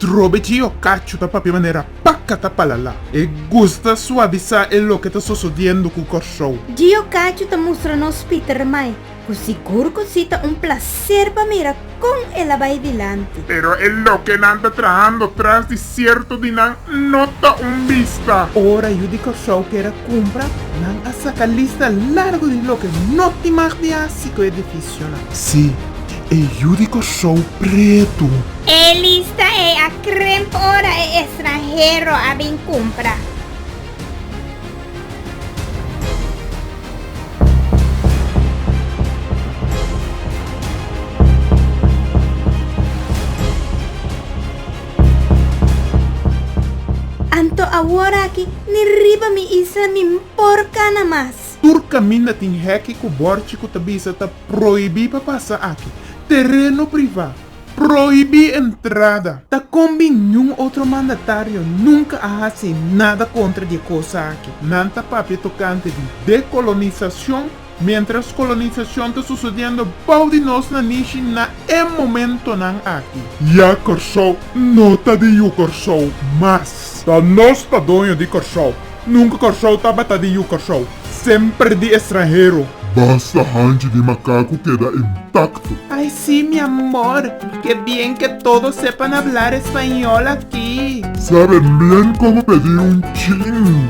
Atrobe ci yo cacho ta papia manera paca ta palala. E gusta suavisa e loke ta sosodiendo cu Corsou. Dje yo cacho ta mustra nos Pieter mai cu sigur cu si ta un placer pa mira con el a bay dilanti. Pero e lokenan ta trahando tras di Cierto di nan no ta un bista. Ora yu di Corsou kera cumpra, nan a saca lista largo di loke no tin mag di haci cu e edificionan. Si, e yu di Corsou pretu. E lista ei a crimp ora e estranhero a bin cumpra. Anto awor aki ni riba mi isla mi por kana mas. Tur kaminda tin heki ku bòrchi ku ta bisa ta prohibí pa pasa aki. Tereno privá, prohibí entrada. Ta kon bin niun otro mandatario nunka a hasi nada kontra di e kosa aki. Nan ta papia tokante di dekolonisacion. Mientras colonisacion ta sucediendo bao di nos na Nishi na e momentonan aki. Ya Corsou no ta di Yu Corsou mas. Ta nos ta doño di Corsou. Nunca Corsou tabata di Yu Corsou. Semper di estranhero. Basta hanchi di macaco keda intacto. Ay si mi amor, ke bien ke todo sepan hablar español aki. Sabe mbien como pedi un chin